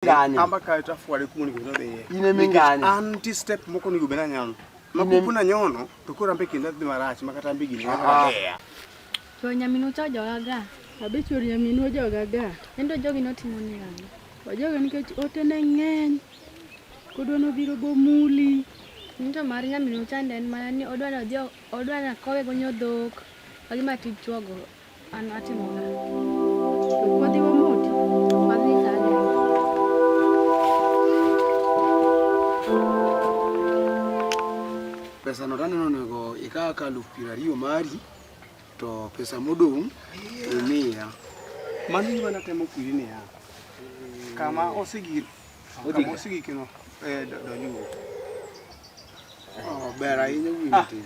mingane kamba ka ta fwale ku ni godo de ine mingane anti step moko ni gubena nyano makupuna nyono to kora mbe kinda dhi marach makata mbe gini ah. to nyaminu cha joga ga abe chori nyaminu joga ga endo jogi notimo ni ng'ano wajoga nikech ote ne ng'eny kodwa nobiro bomuli nto mar nyaminu chande en mana ni odwa ni odhi odwa ni akowe gonyo dhok wagi matij chwogo pesa no taneno nego ikaka alufu piero ariyo mari to pesa modong' imiya. Mano gima natemo kwiri niya, kama osegik kama osigikino eh, donjuru. Oh, ber ahinya wuoyi ah. matin.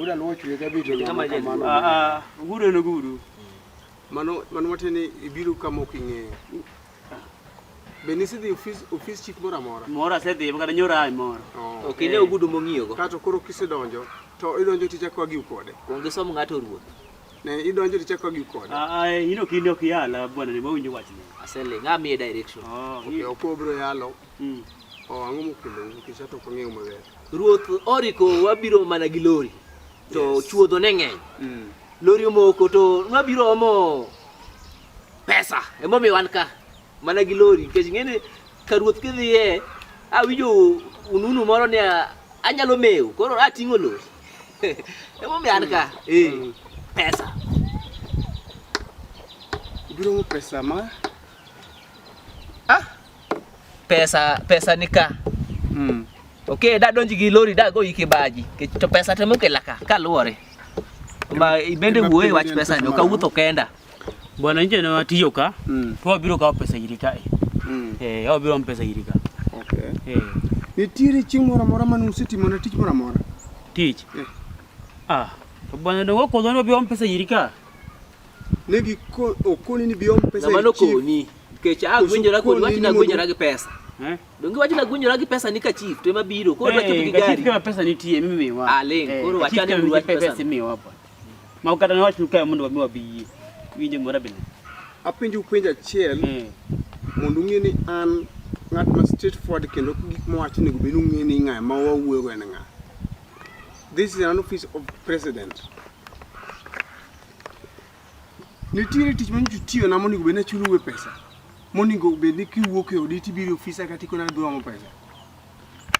Ura luo chwe ka bito na kama no. Ah ah, guru no guru. Mano mano watene ibiru kama okinge. Be nisi dhi ofis ofis chief mora mora. Mora se dhi baka nyora ai mora. Oh. Okine okay, ogudu mongiyo go. Kato koro kise donjo to idonjo ticha kwa gi kode. Konge som ngato ruoth. Ne idonjo ticha kwa gi kode. Ah ah, eh, ino kinde ok yala bwana ne mawinjo wach ne. Asele ngami e direction. Oh, okay, okobro yalo. Mm. Oh, ang'o mokelo nikech ato ok ang'eyo maber. Ruoth oriko wabiro mana gi lori to yes. chuodho ne ng'eny mm. lori omoko to nwabiro omo pesa emomiyo wan ka mana gi lori nikech ng'eni ka ruoth kidhiye awinjo ununu moro ni anyalo mewo koro ating'o lori emomiyo an ka mm. eh, mm. pesa ibiro mo pesa ma pesa pesa nika mm. ok da donji gi lori da go yike baji to pesa temo kelaka kaluore ma ibende wuoye wach pesa ni okawuotho kenda bwana nje na watiyo ka mm. to wabiro kawo pesa iri kae mm. eh, wabiro m pesa iri ka okay. eh. nitiere chieng' moro amora mane usetimona tich moro amora tich eh. ah to bwana dongo kodhoni wabiro m pesa iri ka ne gikoni ni biom pesa ng'ama nokoni Nikech agwenjora kodi wach nagwenjora gi pesa. Eh? Donge wach nagwenjora gi pesa ni ka chief to ema biro. Koro wach eh, gi gari. Chief kama pesa nitie mimi miwa. Ah, ling. Eh, koro wach ane wach pesa si miwa hapa. Ma ukata na wach nukae mondo wamiwa biyi. Winje mora bile. Apenjo upenjo achiel. Hmm. Mondo ung'e ni an ng'at ma straight forward kendo gik mowacho nego bed ung'e ni ng'a ma wawuoyo en ng'a. This is an office of president. Nitiere tich ma nyocha tiyo na monego bed ni achulo uwe pesa. Monego bed ni kiwuok e odi tibiro e ofisa kata ikona ni dwaro pesa.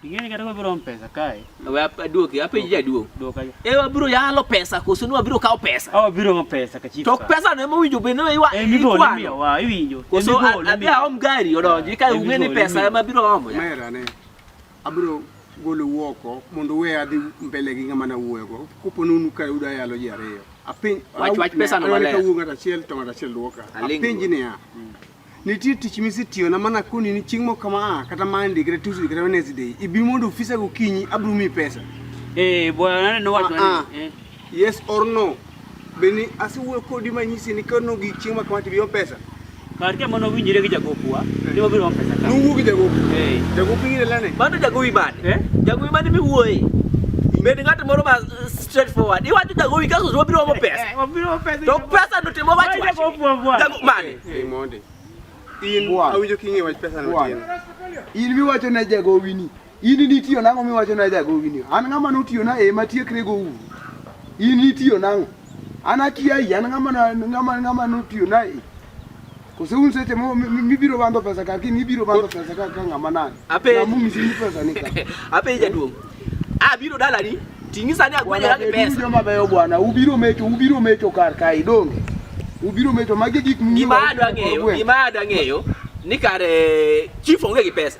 Ing'eni kata wabiro om pesa kae. We aduoki, apenji jaduong'. Duoka ja. E wabiro yalo pesa koso ni wabiro kawo pesa. Awa biro om pesa ka chief. To pesa no ema owinjo bed ni iwa. E migo ni miyo wa iwinjo. Koso adhi aom gari odonji ka ung'e ni pesa ema biro omo. Mera ne. Abiro golou oko mondo uwe adhi mbele gi ng'ama nawuoyogo. Kopo nunu ka yudo ayalo ji ariyo. Apenj wach wach pesa no maler. Kawuo ng'at achiel to ng'at achiel dwoka. Apenji niya. Mm. Nitie tich misetiyona mana koni ni chieng' moko kama a ah, kata Monday kata Tuesday kata Wednesday. Ibi mondo ofisa gokinyi abiro miyi pesa. Eh, bwana neno watu. Ah, ah. Eh. Yes or no? Beni asiwuoyo kodi manyisi ni kano gi chieng' ma kama tibiyo pesa. Kar ka mano winjire gi jagopwa, eh. ni wabiro pesa ka. Nuwu gi jagopi. Eh. Jagopi ngire lane. Bado jagopi bani. Eh? Jagopi bani mi wuoye. Bende ng'at moro ma straight forward. Iwacho jagopi kaso wabiro omo pesa. Eh, wabiro pesa. To pesa no timo wach wach. Jagopi mani. Hey, Monday. In awinjo king'e wach pesa no. In miwacho ne jagopi ni. In nitiyo nang'o miwacho na jagowi ni? An ng'ama notiyo na ema tiekre go uru. In nitiyo nang'o? An akia yi, an ng'ama na ng'ama ng'ama notiyo na e. Kose un seche mo mi- mi- mibiro bando pesa kar kiny ibiro bando pesa kar ka ng'ama nani. Ape- Namu misini pesa ni ka. Ape jaduong'. Ah biro dalani. Ting'i sani agwanya Bwana, gi pesa. joma beyo bwana, ubiro mecho, ubiro mecho kar kae donge. Ubiro mecho magi gik mung'eyo. Gima adwa ng'eyo, gima adwa ng'eyo ni kare chief onge gi pesa.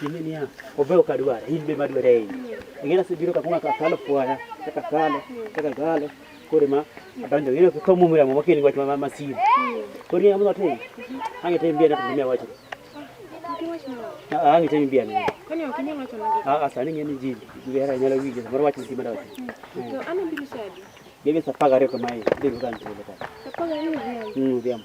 Kimenia obe okadwara in be madwara ei ng'ina sibiro kakuma kakalo fwaya kakalo kakalo kore ma adonjo ng'ina kamumira mo makeni wach ma masiri kore ng'ina mo tin ange tem biana to mia wacho ange tem biana kani ok inyalo wacho nagi a sani ng'ina ni jili ngera nyalo winjo mar wach ni mara wacho to ana biro sadi Debe sapagare kamae, debe kanto leta. Sapagare ni dhiambo. Mm, dhiambo.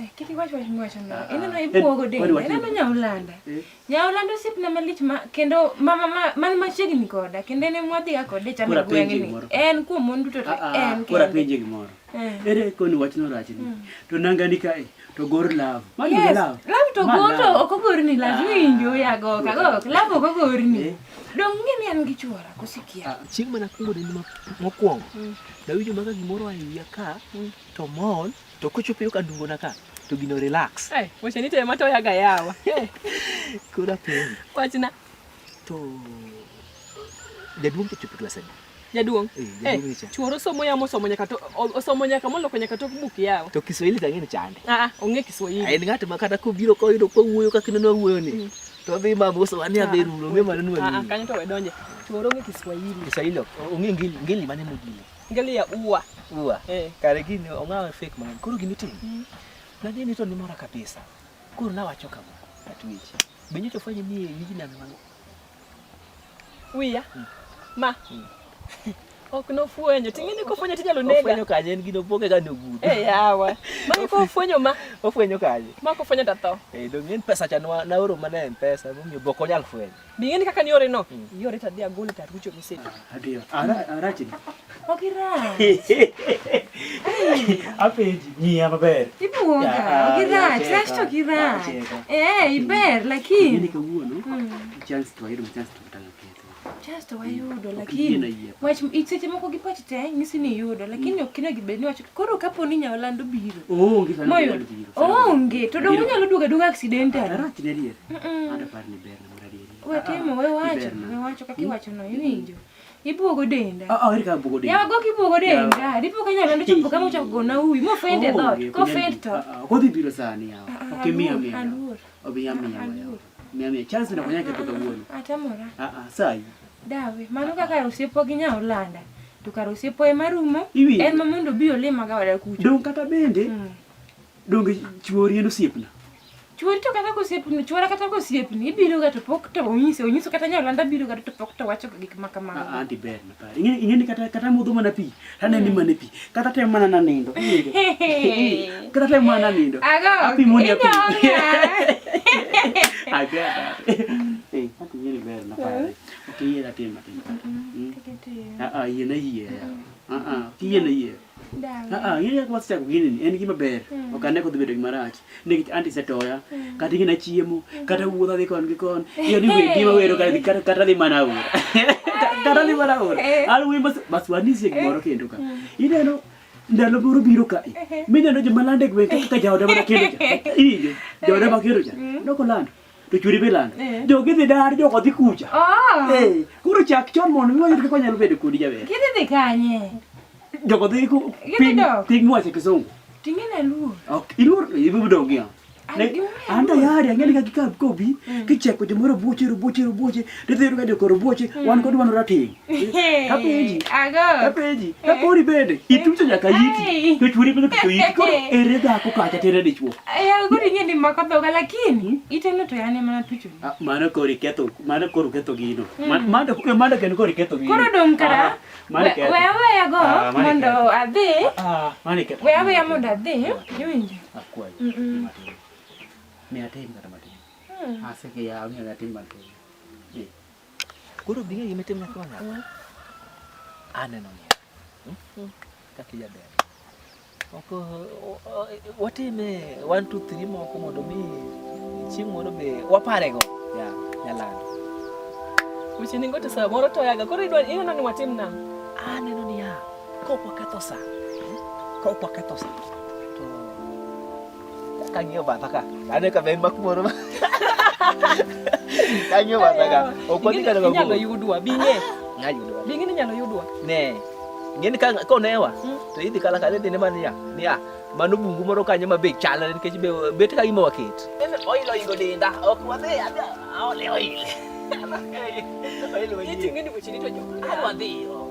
Eh, kik iwach wach mwacho no. Ah, ah. Ineno eh, ibuogo de. Ineno nyaulanda. Eh? Nyaulanda osiepna malich ma kendo mama ma man machiegni koda kendo en mwadhi ga kode chamo gweng'ni. En kuom mon duto to ah, en. Kora penje gimoro. Ere koni wach no rach ni. Hmm. To nanga ni kae to gor love. Mani yes. love. Love to go to ok ogorni love winjo ya go ka go. Love ok ogorni. Dong ng'e ni an gi chuora kosikia. Chieng' mana kungo ni mokwongo. Hmm. Dawinjo maga gimoro ayiya ka hmm. to mall. Mm. To kochopo yo ka dungo na ka to gino relax. Eh, wacha ni tema to yaga yawa. Eh. Kura piny. Wachna. To jaduong' kichopo klas adi? Jaduong'. Eh, eh jaduong' cha. Chuoro somo yamo somo nyaka to osomo nyaka moloko nyaka to buk yawa. To Kiswahili tangi ni chande. Ah, ah ong'e Kiswahili. Ai ng'at ma kata kobiro ko yudo ko wuoyo kaka ineno wuoyo ni. Mm. To dhi ma boso wani ah, aberu lo me maneno ni. Ah, ah kanyo to wedonje. Chuoro ng'e Kiswahili. Kiswahili. Ong'e ngili ngili mane mudile. Ngelia uwa. Uwa. Eh. Kare gini ong'awe fake mang'eny. Koro gini timo. Mm. Na gini to nimora kabisa. Koro na wacho kama. Atwich. Benyo to fanye ni yiji na mwangu. Wiya. Mm. Ma. Mm. Ok no fwenyo. Tingini ko fwenyo tinyalo nega. Ofwenyo kanye en gino poke ga no gudo. Eh yawa. Ma ko fwenyo ma. Ofwenyo kanye. Ma ko fwenyo ta tho. Eh dong en pesa cha na oro mana en pesa. Mumyo boko nyal fwenyo. Bing'eni kaka ni yore no. Hmm. Yore ta dia gole ta rucho mese. Adio. Ara ara chini. Okira. Apeji ni ama ber. Ibuoga. Okira. Trash to kira. Eh, iber lakini. Ni kawuono. Hmm. Chance to ayudo chance to tanga ketho. Chance to ayudo lakini. Wach iseche moko gi pach te nyisi ni yudo lakini ok kina gibed ni wacho koro kapo ni nya olando biro. Onge. Onge. To dongo nyalo duoga duoga accidental. Ara chini. Ada par ni Wetimo, we wacho, we wacho kaka iwacho no, iwinjo. Ibuogo denda. Ah, ah, erika buogo denda. Yago kibuogo denda. Dipo kanya lando chopo kama ucha kugona uwi. Mo fend e oh, dot. Ko fend to. Ah, Kodhi biro sani yawo. Ah, ok miya miya. Aluor. Obi ya miya yawo. Miya miya. Chance na kanya keto kawuono. Atamora. Ah ah, sai. Dawe, mano kaka osiepo gi nya Olanda. To kar osiepo ema rumo. En ma mondo bi olima ga wada kucho. Dong kata bende. Mm. Donge chuori en osiepna? Chuori to kata kosiepni, chuora kata kosiepni, ibiro ga to pok to onyise, onyiso kata nyalanda biro ga to pok to wacho gik ma kamago. Ah, anti ber na pare. Ing'e ing'e kata kata modho mana pi, tane ni hmm. mana pi. Kata tem mana na nindo. Kata tem mana nindo. Ago. Api moni api. Aga. Eh, anti yeri ber na pare. Hmm. Okay, yera tem atin. Hmm. Ah ah, yena yera. Ah ah, kiyena yera. Ng'eyo ka wasechako gini en gima ber. Hmm. Ok ane kodhi bedo gima rach. Nikech anti setoya. Hmm. Kata ing'ina chiemo. Hmm. Kata wuodha dhi kon gi kon. Iyo ni wendi ma wero kata kata dhi mana ur. Kata dhi mana ur. Al wi mas mas wani sie gimoro kendo ka. Ineno ndalo moro biro ka. Mineno joma lande gwe ka jaoda mana kendo. Iyo. Jaoda ma kendo ja. Noko lando. to churi bilando eh. jo gidhi dar jo kodhi kucha oh. eh koro chak chon mondo mi wayud kaka nyalo bedo kodi jaber gidhi dhi kanye jo kodhi ku piny piny mwache kisungu tingene luo ok iluo ibu dong ya an tayari ang'eni ka kikakobi mm. kicheko jomoro buoche robuoche robuoche tidhi yudo ka jokoro buoche mm. wan kod wan rateng' Kapenji. Ago. Kapenji. Kapori bende. Itucho nyaka yiti. To churi bende to yiti. Koro ere dhako kacha tere dichwo. Ya gori ng'e ni mako dhoga lakini hmm? iteno to yane mana tucho. Ah, mano kori ketho. Mano koro ketho gino. Hmm. Mano eh, mano ken kori ketho gino. Koro dong kara. Ah, mano ketho. Wewe wewe go ah, mondo adhi. Ah, mano ketho. Wewe wewe mondo adhi. Yunje. Akwai. Mhm. Mimi atim kata matin. Hmm. Asike ya mimi atim matin. Koro bi ng'e gima itim nyathi ma nyako. Aneno ni. Hmm? Kaka ijaber. Ok watime 1 2 3 moko mondo mi chieng' moro be waparego. Ya, nyalando. Weche ningo to saa moro to yaga koro idwa ineno ni watim na. Aneno ni ya. Kok waketho saa. Kok waketho saa. Kanyo ba taka. Ane ka ben makmoro ba. Kanyo ba taka. Okoni ka daga. Nyalo yudwa binge. Nyalo yudwa. Binge ni nyalo yudwa. Ne. Ngeni ka ko newa. Hmm. To idhi kala kala dine mania. Nia. Mano bungu moro kanyo ma be chalre nikech be bet ka gima waket. En oilo ingo dinda. Ok wadhi adhi. Aole oile. Oile. Iti ngeni buchini to jo. Adwa dhiyo.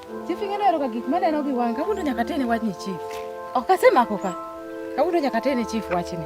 Chief ing'e nero ka gik maneno gi wang' kawuondo nyaka tene wachni chief. Ok asemako ka. Kawuondo nyaka tene chief wachni.